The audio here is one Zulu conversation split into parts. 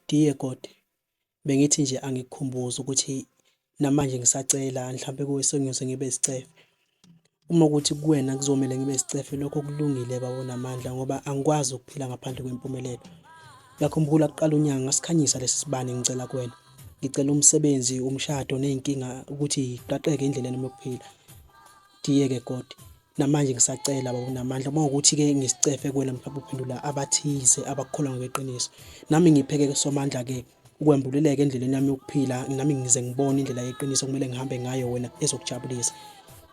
Diegod, Bengithi nje angikukhumbuze ukuthi namanje ngisacela mhlawumpe kuwe sengiyoze ngibe isicefe. Uma kuwukuthi kuwena kuzomele ngibe isicefe lokho kulungile baba onamandla ngoba angikwazi ukuphila ngaphandle kwempumelelo. Uyakhumbula kuqala unyaka ngasikhanyisa lesi sibani ngicela kuwena. Ngicela umsebenzi, umshado ney'nkinga ukuthi yiqaqeke endleleni yokuphila. Dear ke God namanje ngisacela baba unamandla uma ukuthi ke ngisicefe kuwena mhlawumbe uphendula abathize abakukholwa ngokweqiniso nami ngipheke somandla ke ukwembuleleka endleleni yami yokuphila nami ngize ngibone indlela yeqiniso kumele ngihambe ngayo wena ezokujabulisa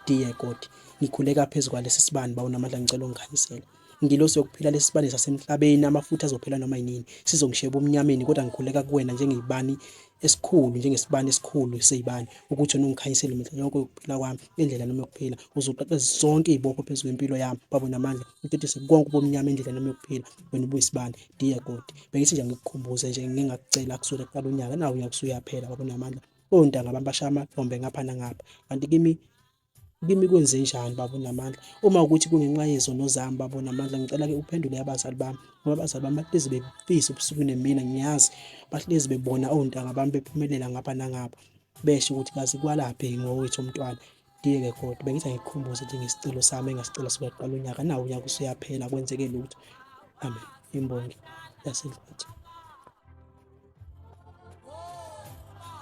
dear God ngikhuleka phezulu kwalesi sibani bawunamandla ngicela ungikhanyisele Ngilosi yokuphila lesibane sasemhlabeni amafutha azophela noma yinini sizongisheba umnyameni kodwa ngikhuleka kuwena njengeyibani esikhulu njengesibani esikhulu seyibani ukuthi wena ungikhanyisele mihla yonke yokuphila kwami endlela noma yokuphila uzoqaqe zonke izibopho phezu kwempilo yami babo namandla utetise konke ubumnyama endlela noma yokuphila wena ubuyisibani dear god bengithi nje ngikukhumbuze nje ngingakucela kusukela kuqala unyaka nawo uyakusuyaphela babo namandla ontanga abantu bashaya amahlombe ngapha nangapha kanti kimi Kimi kwenze njani baba unamandla uma ukuthi kungenxa yezono zami baba unamandla ngicela-ke uphendule abazali bami ngoba abazali bami bahlezi befisa ubusuku nemina ngiyazi bahlezi bebona ontanga bami bephumelela ngapha nangapha besho ukuthi kazi kwalaphi ngowethu umntwana ngiyeke kodwa bengithi angikhumbuze nje ngesicelo sami engasicela sokuyaqala unyaka nawo unyaka usuyaphela kwenzeke lutho amen imbongi yasedlwathi